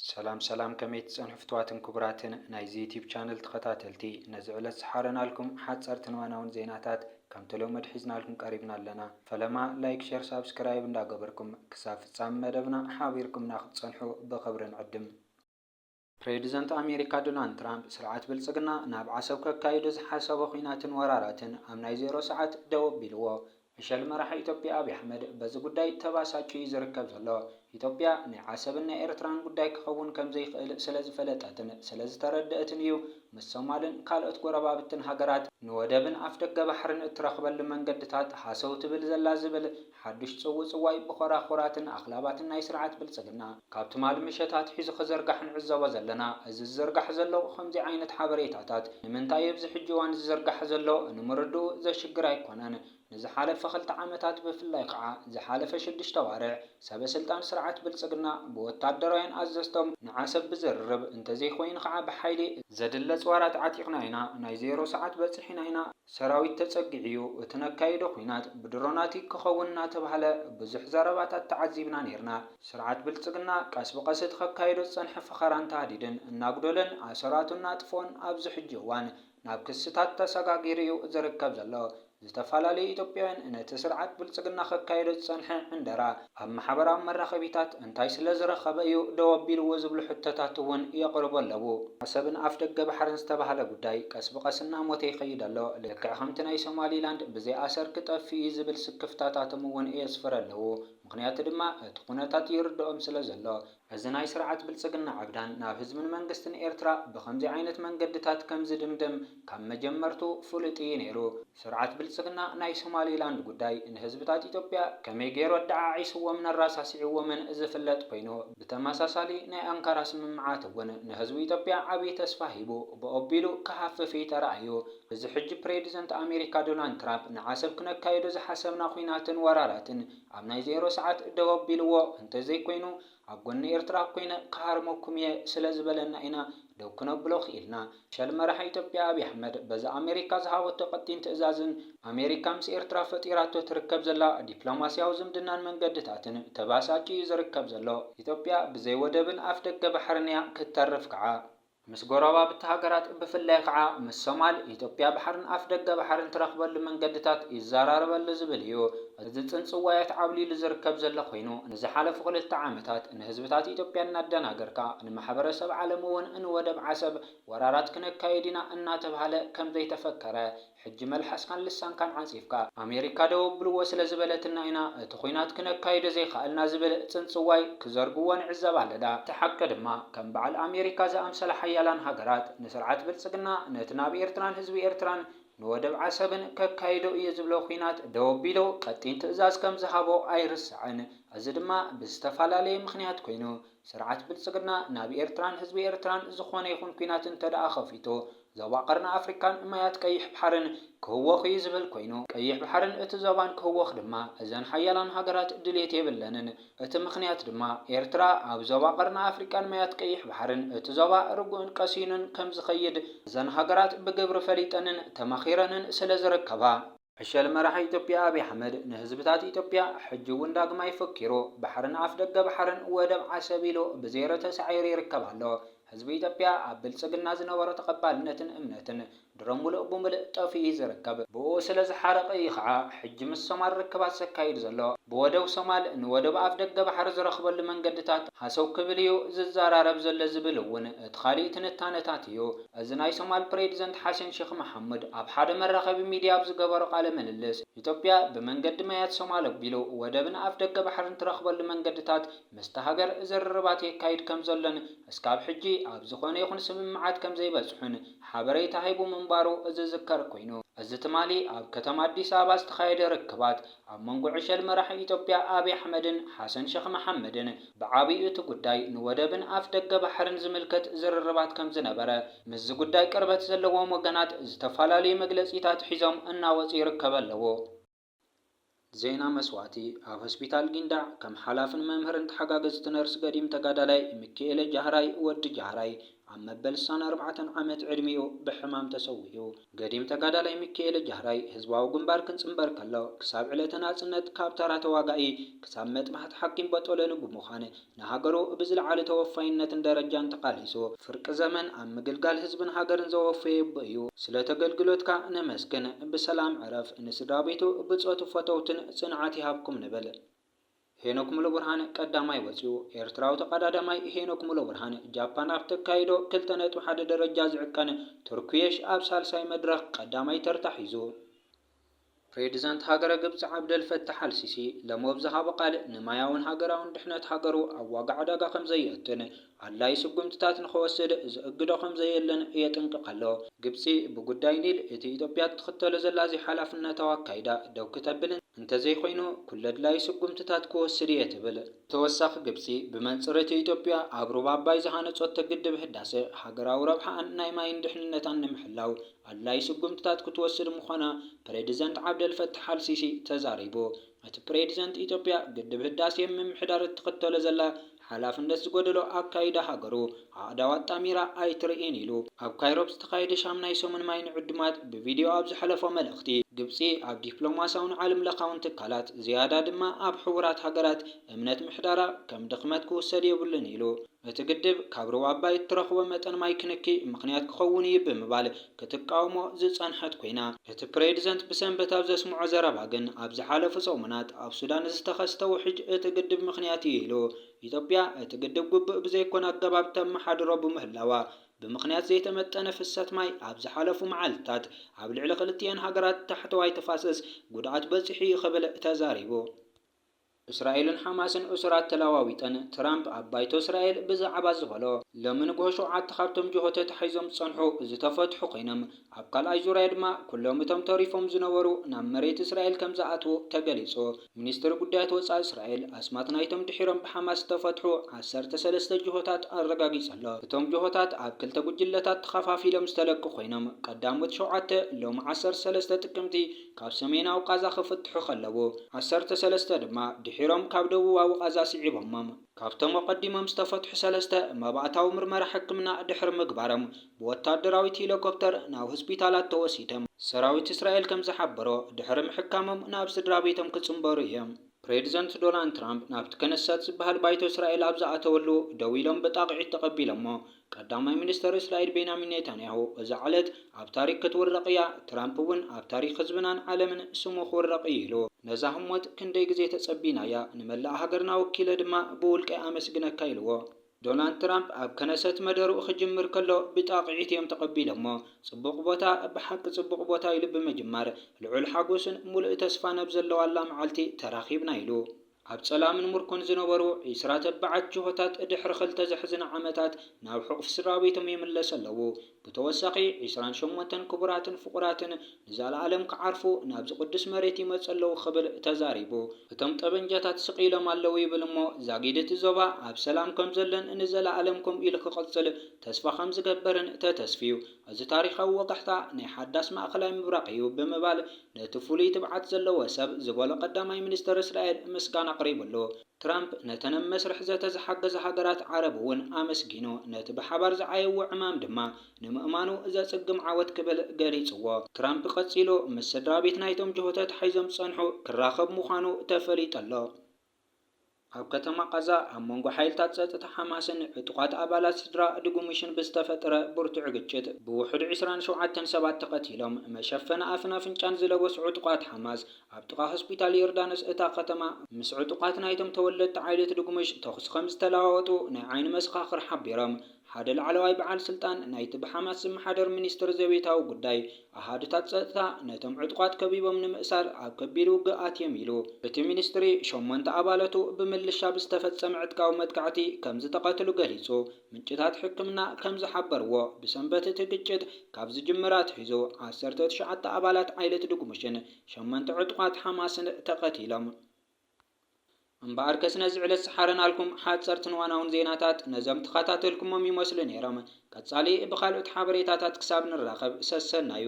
ሰላም ሰላም ከመይ ትጸንሑ ፍትዋትን ኩቡራትን ናይዚ ዩቲብ ቻነል ተኸታተልቲ ነዚ ዕለት ዝሓረናልኩም ሓጸርትን እዋናውን ዜናታት ከም ተለመዱ ሒዝናልኩም ቀሪብና ኣለና ፈለማ ላይክ ሸር ሳብስክራይብ እንዳ ገበርኩም ክሳብ ፍጻሚ መደብና ሓቢርኩምና ክትጸንሑ ብኽብሪ ንዕድም። ፕሬዚደንት ኣሜሪካ ዶናልድ ትራምፕ ስርዓት ብልፅግና ናብ ዓሰብ ከካይዶ ዝሓሰቦ ኹናትን ወራራትን ኣብ ናይ ዜሮ ሰዓት ደው ኣቢልዎ ዕሸል መራሒ ኢትዮጵያ ኣብይ ኣሕመድ በዚ ጉዳይ ተባሳጭዩ እዩ ዝርከብ ዘሎ። ኢትዮጵያ ናይ ዓሰብን ናይ ኤርትራን ጉዳይ ክኸውን ከምዘይኽእል ስለዝፈለጠትን ስለዝተረደእትን እዩ ምስ ሶማልን ካልኦት ጎረባብትን ሃገራት ንወደብን ኣፍደገ ባሕርን እትረኽበሉ መንገድታት ሃሰው ትብል ዘላ ዝብል ሓዱሽ ጽውጽዋይ ብኾራኹራትን ኣኽላባትን ናይ ስርዓት ብልጽግና ካብ ትማሊ ምሸት ኣትሒዙ ክዝርጋሕ ንዕዘቦ ዘለና። እዚ ዝዝርጋሕ ዘሎ ከምዚ ዓይነት ሓበሬታታት ንምንታይ ኣብዚ ሕጂ እዋን ዝዝርጋሕ ዘሎ ንምርድኡ ዘሽግር ኣይኮነን። ንዝሓለፈ ክልተ ዓመታት ብፍላይ ከኣ ዝሓለፈ ሽዱሽተ ኣዋርሕ ሰበ ስልጣን ስርዓት ብልጽግና ብወታደራውያን ኣዘዝቶም ንዓሰብ ብዝርርብ እንተዘይኮይኑ ከኣ ብሓይሊ ዘድሊ ኣጽዋራት ዓጢቕና ኢና፣ ናይ ዜሮ ሰዓት በጺሕና ኢና፣ ሰራዊት ተጸጊዑ'ዩ፣ እቲ ነካይዶ ኵናት ብድሮናት'ዩ ክኸውን እናተባህለ ብዙሕ ዘረባታት ተዓዚብና ኔርና። ስርዓት ብልጽግና ቀስ ብቐስ እቲ ከካይዶ ዝጸንሐ ፈኸራን ታህዲድን እናጉደለን ኣሰራቱ እናጥፍኦን ኣብዚ ሕጂ እዋን ናብ ክስታት ተሰጋጊሩ'ዩ ዝርከብ ዘሎ። ዝተፈላለዩ ኢትዮጵያውያን ነቲ ስርዓት ብልጽግና ከካይዶ ዝጸንሐ ዕንደራ፣ ኣብ ማሕበራዊ መራኸቢታት እንታይ ስለ ዝረኸበ እዩ ደው ኣቢልዎ ዝብሉ ሕቶታት እውን የቕርቡ ኣለዉ። ዓሰብን ኣፍደገ ባሕርን ዝተባህለ ጉዳይ ቀስ ብቐስ እናሞተ ይኸይድ ኣሎ፣ ልክዕ ከምቲ ናይ ሶማሊላንድ ብዘይ ኣሰር ክጠፍእ እዩ ዝብል ስክፍታታቶም እውን የስፍሩ ኣለዉ፣ ምኽንያቱ ድማ እቲ ኩነታት ይርደኦም ስለ ዘሎ። እዚ ናይ ስርዓት ብልጽግና ዕብዳን ናብ ህዝብን መንግስትን ኤርትራ ብኸምዚ ዓይነት መንገድታት ከም ዝድምድም ካብ መጀመርትኡ ፍሉጥ ኢዩ ነይሩ። ስርዓት ብልጽግና ናይ ሶማሊላንድ ጉዳይ ንህዝብታት ኢትዮጵያ ከመይ ገይሩ ኣደዓዒስዎምን ኣራሳሲዕዎምን ዝፍለጥ ኮይኑ፣ ብተመሳሳሊ ናይ ኣንካራ ስምምዓት እውን ንህዝቢ ኢትዮጵያ ዓቢ ተስፋ ሂቡ ብኦቢሉ ክሃፍፍ ኢዩ ተራእዩ። እዚ ሕጂ ፕሬድዘንት ኣሜሪካ ዶናልድ ትራፕ ንዓሰብ ክነካይዶ ዝሓሰብና ኹናትን ወራራትን፣ ኣብ ናይ ዜሮ ሰዓት ደው ኣቢልዎ እንተዘይኮይኑ ኣብ ጎኒ ኤርትራ ኮይነ ክሃርመኩም እየ ስለዝበለና ኢና ደው ክነብሎ ክኢልና። ሸል መራሒ ኢትዮጵያ ኣብይ ኣሕመድ በዚ ኣሜሪካ ዝሃበቶ ቀጢን ትእዛዝን ኣሜሪካ ምስ ኤርትራ ፈጢራቶ ትርከብ ዘላ ዲፕሎማስያዊ ዝምድናን መንገድታትን ተበሳጭዩ እዩ ዝርከብ ዘሎ። ኢትዮጵያ ብዘይ ወደብን ኣፍደገ ባሕርን እያ ክትተርፍ ክዓ። ምስ ጎረባብቲ ሃገራት ብፍላይ ኸዓ ምስ ሶማል፣ ኢትዮጵያ ባሕርን ኣፍ ደገ ባሕርን ትረኽበሉ መንገድታት ይዘራረበሉ ዝብል እዩ። እዚ ፅንፅዋያት ዓብሊሉ ዝርከብ ዘሎ ኮይኑ ንዝሓለፉ ክልተ ዓመታት ንህዝብታት ኢትዮጵያ እናደናገርካ ንማሕበረሰብ ዓለም እውን ንወደብ ዓሰብ ወራራት ክነካይድ ኢና እናተብሃለ ከምዘይተፈከረ ሕጂ መልሓስካን ልሳንካን ዓንጺፍካ ኣሜሪካ ደው ኣብልዎ ስለ ዝበለትና ኢና እቲ ኹናት ክነካይዶ ዘይኻኣልና ዝብል ጽንጽዋይ ክዘርግዎ ንዕዘብ ኣለዳ። እቲ ሓቂ ድማ ከም ባዓል ኣሜሪካ ዝኣምሰላ ሓያላን ሃገራት ንስርዓት ብልጽግና ነቲ ናብ ኤርትራን ህዝቢ ኤርትራን ንወደብ ዓሰብን ከካይዶ እየ ዝብሎ ኹናት ደው ኣቢሉ ቀጢን ትእዛዝ ከም ዝሃቦ ኣይርሳዕን። እዚ ድማ ብዝተፋላለየ ምኽንያት ኮይኑ ስርዓት ብልጽግና ናብ ኤርትራን ህዝቢ ኤርትራን ዝኾነ ይኹን ኲናት እንተድኣ ከፊቱ፣ ዞባ ቀርኒ ኣፍሪቃን ማያት ቀይሕ ባሕርን ክህወኽ እዩ ዝብል ኮይኑ፣ ቀይሕ ባሕርን እቲ ዞባን ክህወኽ ድማ እዘን ሓያላን ሃገራት ድልየት የብለንን። እቲ ምኽንያት ድማ፣ ኤርትራ ኣብ ዞባ ቀርኒ ኣፍሪቃን ማያት ቀይሕ ባሕርን እቲ ዞባ ርጉእን ቀሲኑን ከም ዝኸይድ እዘን ሃገራት ብግብሪ ፈሊጠንን ተማኺረንን ስለ ዝርከባ። ዕሸል መራሒ ኢትዮጵያ ኣብይ ኣሕመድ ንህዝብታት ኢትዮጵያ ሕጂ እውን ዳግማይ ፈኪሩ ባሕርን ኣፍደገ ባሕርን ወደብ ዓሰብ ኢሉ ብዜሮ ተሳዒሩ ይርከብ ኣሎ። ህዝቢ ኢትዮጵያ ኣብ ብልጽግና ዝነበሮ ተቐባልነትን እምነትን ድሮ ሙሉእ ብሙልእ ጠፊኡ እዩ ዝርከብ። ብእኡ ስለዝሓረቐ እዩ ከዓ ሕጂ ምስ ሶማል ርክባት ዘካይድ ዘሎ። ብወደብ ሶማል ንወደብ ኣፍደገ ባሕሪ ዝረኽበሉ መንገድታት ሃሰው ክብል እዩ ዝዘራረብ ዘሎ ዝብል እውን እቲ ካሊእ ትንታነታት እዩ። እዚ ናይ ሶማል ፕሬዚደንት ሓሰን ሼኽ መሓሙድ ኣብ ሓደ መራኸቢ ሚዲያ ኣብ ዝገበሮ ቃለ ምልልስ፣ ኢትዮጵያ ብመንገዲ ማያት ሶማል ኣቢሉ ወደብን ኣፍደገ ባሕርን ትረኽበሉ መንገድታት ምስታ ሃገር ዝርርባት የካይድ ከምዘሎን እስካብ ሕጂ ኣብ ዝኾነ ይኹን ስምምዓት ከምዘይበጽሑን ሓበሬታ ሂቡ ምንባሩ ዝዝከር ኮይኑ፣ እዚ ትማሊ ኣብ ከተማ ኣዲስ ኣበባ ዝተኻየደ ርክባት፣ ኣብ መንጎ ዕሸል መራሒ ኢትዮጵያ ኣብይ ኣሕመድን ሓሰን ሸኽ መሓመድን ብዓብይኡ እቲ ጉዳይ ንወደብን ኣፍ ደገ ባሕርን ዝምልከት ዝርርባት ከምዝነበረ ምስዚ ጉዳይ ቅርበት ዘለዎም ወገናት ዝተፈላለዩ መግለፂታት ሒዞም እናወፁ ይርከበ ኣለዉ። ዜና መስዋእቲ ኣብ ሆስፒታል ጊንዳዕ ከም ሓላፍን መምህርን ተሓጋገዝቲ ነርስ ገዲም ተጋዳላይ ሚኪኤለ ጃህራይ፣ ወዲ ጃህራይ፣ ኣብ መበል ስሳን ኣርባዕተን ዓመት ዕድሚኡ ብሕማም ተሰዊኡ። ገዲም ተጋዳላይ ሚኪኤለ ጃህራይ ህዝባዊ ግንባር ክንጽንበር ከሎ ክሳብ ዕለተ ናጽነት ካብ ተራ ተዋጋኢ ክሳብ መጥባሕቲ ሓኪም በጦሎኒ ብምዃን ንሃገሩ ብዝለዓለ ተወፋይነትን ደረጃን ተቓሊሱ ፍርቂ ዘመን ኣብ ምግልጋል ህዝብን ሃገርን ዘወፈየ ኣቦ እዩ። ስለ ተገልግሎትካ ነመስግን። ብሰላም ዕረፍ። ንስድራቤቱ፣ ብጾቱ፣ ፈተውቱን ጽንዓት ይሃብኩም ንብል። ሄኖክ ሙሉብርሃን ቀዳማይ ወጺኡ። ኤርትራዊ ተቐዳዳማይ ሄኖክ ሙሉብርሃን፣ ጃፓን ኣብ ተካይዶ ክልተ ነጥቢ ሓደ ደረጃ ዝዕቀን ቱርኩየሽ ኣብ ሳልሳይ መድረኽ ቀዳማይ ተርታ ሒዙ። ፕሬዚዳንት ሃገረ ግብጺ ዓብደል ፈታሕ ኣል ሲሲ ሎሚ ኣብ ዝሃቦ ቃል፣ ንማያውን ሃገራውን ድሕነት ሃገሩ ኣብ ዋጋ ዕዳጋ ከምዘየእቱን፣ ኣድላዪ ስጉምትታት ንኸወስድ ዝእግዶ ከምዘየለን የጥንቅቕ ኣሎ። ግብጺ ብጉዳይ ኒል እቲ ኢትዮጵያ እትኽተሎ ዘላ ዘይሓላፍነታዊ ኣካይዳ ደው ክተብልን እንተዘይኮይኑ ኩሉ ኣድላዪ ስጉምትታት ክወስድ እየ ትብል። ብተወሳኺ ግብጺ ብመንጽር እቲ ኢትዮጵያ ኣብ ሩባ ኣባይ ዝሃነጾቶ ግድብ ህዳሰ ሃገራዊ ረብሓኣን ናይ ማይን ድሕንነታን ንምሕላው ኣድላዪ ስጉምትታት ክትወስድ ምዃና ፕሬድዘንት ዓብደልፈታሕ ኣልሲሲ ተዛሪቡ። እቲ ፕሬዚደንት ኢትዮጵያ ግድብ ህዳሴ ምምሕዳር እትኽተሎ ዘላ ሓላፍነት ዝጎደሎ ኣካይዳ ሃገሩ ኣእዳው ኣጣሚራ ኣይትርእይን ኢሉ። ኣብ ካይሮ ኣብ ዝተኻየደ ሻምናይ ሰሙን ማይ ንዕዱማት ብቪድዮ ኣብ ዘሕለፎ መልእኽቲ፣ ግብፂ ኣብ ዲፕሎማሲያውን ዓለም ለኻውን ትካላት ዝያዳ ድማ ኣብ ሕቡራት ሃገራት እምነት ምሕዳራ ከም ድኽመት ክውሰድ የብሉን ኢሉ። እቲ ግድብ ካብ ሩባ ኣባይ እትረኽቦ መጠን ማይ ክንኪ ምኽንያት ክኸውን እዩ ብምባል ክትቃወሞ ዝጸንሐት ኮይና፣ እቲ ፕሬድዘንት ብሰንበት ኣብ ዘስምዖ ዘረባ ግን ኣብ ዝሓለፉ ሰሙናት ኣብ ሱዳን ንዝተኸስተ ውሕጅ እቲ ግድብ ምኽንያት እዩ ኢሉ። ኢትዮጵያ እቲ ግድብ ግቡእ ብዘይኮነ ኣገባብ ተመሓድሮ ብምህላዋ ብምኽንያት ዘይተመጠነ ፍሰት ማይ ኣብ ዝሓለፉ መዓልታት ኣብ ልዕሊ ክልቲኤን ሃገራት ታሕተዋይ ተፋሰስ ጉድኣት በጺሑ እዩ ክብል ተዛሪቡ። እስራኤልን ሓማስን እሱራት ተለዋዊጠን፣ ትራምፕ ኣብ ባይቶ እስራኤል ብዛዕባ ዝበሎ። ሎሚ ንግሆ ሸውዓተ ካብቶም ጅሆ ተታሒዞም ዝጸንሑ ዝተፈትሑ ኮይኖም፣ ኣብ ካልኣይ ዙርያ ድማ ኩሎም እቶም ተሪፎም ዝነበሩ ናብ መሬት እስራኤል ከምዝኣትዉ ተገሊጹ። ሚኒስትሪ ጉዳያት ወጻኢ እስራኤል ኣስማት ናይቶም ድሒሮም ብሓማስ ዝተፈትሑ ዓሰርተ ሰለስተ ጅሆታት ኣረጋጊጹ'ሎ። እቶም ጅሆታት ኣብ ክልተ ጉጅለታት ተኸፋፊሎም ዝተለቁ ኮይኖም፣ ቀዳሞት ሸውዓተ ሎሚ ዓሰርተ ሰለስተ ጥቅምቲ፣ ካብ ሰሜናዊ ቓዛ ክፍትሑ ከለዉ፣ ዓሰርተ ሰለስተ ድማ ድሒሮም ካብ ደቡባዊ ቓዛ ስዒቦሞም። ካብቶም ኣቐዲሞም ዝተፈትሑ ሰለስተ፣ መባእታዊ ምርመራ ሕክምና ድሕሪ ምግባሮም ብወታደራዊት ሂሊኮፕተር ናብ ሆስፒታላት ተወሲዶም። ሰራዊት እስራኤል ከም ዝሓበሮ፣ ድሕሪ ምሕካሞም ናብ ስድራቤቶም ክጽንበሩ እዮም። ፕሬዚደንት ዶናልድ ትራምፕ ናብቲ ከነሰት ዝበሃል ባይቶ እስራኤል ኣብ ዝኣተወሉ ደው ኢሎም ብጣቕዒት ተቐቢሎሞ። ቀዳማይ ሚኒስተር እስራኤል ቤንያሚን ኔታንያሁ፣ እዛ ዕለት ኣብ ታሪኽ ክትውረቕ እያ፣ ትራምፕ እውን ኣብ ታሪኽ ህዝብናን ዓለምን ስሙ ክውረቕ እዩ ኢሉ። ነዛ ህሞት ክንደይ ግዜ ተጸቢናያ፣ ንመላእ ሃገርና ወኪለ ድማ ብውልቀይ ኣመስግነካ ኢልዎ። ዶናልድ ትራምፕ ኣብ ከነሰት መደርኡ ክጅምር ከሎ ብጣቕዒት እዮም ተቐቢሎሞ። ጽቡቕ ቦታ፣ ብሓቂ ጽቡቕ ቦታ ኢሉ ብምጅማር፣ ልዑል ሓጎስን ምሉእ ተስፋን ኣብ ዘለዋላ መዓልቲ ተራኺብና ኢሉ። ኣብ ጸላምን ምርኮን ዝነበሩ ዒስራ ተባዓት ጅሆታት ድሕሪ ክልተ ዘሕዝና ዓመታት ናብ ሕቑፊ ስድራቤቶም ይምለሱ ኣለዉ። ብተወሳኺ ዒስራን ሸሞንተን ክቡራትን ፍቑራትን ንዘለኣለም ክዓርፉ ናብዚ ቅዱስ መሬት ይመጹ ኣለዉ ክብል ተዛሪቡ። እቶም ጠበንጃታት ስቕ ኢሎም ኣለዉ ይብል እሞ ዛጊድ እቲ ዞባ ኣብ ሰላም ከም ዘሎን ንዘለኣለም ከምኡ ኢሉ ክቕጽል ተስፋ ከም ዝገበርን ተተስፍዩ። እዚ ታሪኻዊ ወጋሕታ ናይ ሓዳስ ማእከላይ ምብራቕ እዩ ብምባል ነቲ ፍሉይ ትብዓት ዘለዎ ሰብ ዝበሎ ቀዳማይ ሚኒስተር እስራኤል ምስጋና ኣቕሪቡሉ። ትራምፕ ነተን ኣብ መስርሕ ዘተ ዝሓገዛ ሃገራት ዓረብ እውን ኣመስጊኑ፣ ነቲ ብሓባር ዝዓየዎ ዕማም ድማ ንምእማኑ ዘጽግም ዓወት ክብል ገሊጽዎ። ትራምፕ ቀጺሉ፣ ምስ ስድራቤት ናይቶም ጅሆ ተታሒዞም ዝጸንሑ ክራኸብ ምዃኑ ተፈሊጡ ኣሎ። ኣብ ከተማ ቓዛ ኣብ መንጎ ሓይልታት ጸጥታ ሓማስን ዕጡቓት ኣባላት ስድራ ድጉምሽን ብዝተፈጥረ ብርቱዕ ግጭት ብውሑድ ዕስራን ሸውዓተን ሰባት ተቐቲሎም። መሸፈኒ ኣፍን ኣፍንጫን ዝለበሱ ዕጡቓት ሓማስ ኣብ ጥቓ ሆስፒታል ዮርዳኖስ እታ ከተማ ምስ ዕጡቓት ናይቶም ተወለድቲ ዓይለት ድጉምሽ ተኹሲ ከምዝተለዋወጡ ናይ ዓይኒ መሰኻኽር ሓቢሮም። ሓደ ላዕለዋይ በዓል ስልጣን ናይቲ ብሓማስ ዝመሓደር ሚኒስትሪ ዘቤታዊ ጉዳይ፣ ኣሃዱታት ጸጥታ ነቶም ዕጡቓት ከቢቦም ንምእሳር ኣብ ከቢድ ውግእ ኣትዮም ኢሉ። እቲ ሚኒስትሪ፣ ሸሞንተ ኣባለቱ ብምልሻ ብዝተፈጸመ ዕጥቃዊ መጥቃዕቲ ከም ዝተቐትሉ ገሊጹ። ምንጭታት ሕክምና ከም ዝሓበርዎ፣ ብሰንበት እቲ ግጭት ካብ ዝጅምር ኣትሒዙ ዓሰርተ ትሽዓተ ኣባላት ዓይለት ድጉምሽን ሸሞንተ ዕጡቓት ሓማስን ተቐቲሎም። እምበኣር ከስ ነዚ ዕለት ዝሓረናልኩም ሓጸርትን ዋናውን ዜናታት ነዞም ተኻታተልኩሞም ይመስሉ ነይሮም። ቀጻሊ ብኻልኦት ሓበሬታታት ክሳብ ንራኸብ ሰሰናዩ።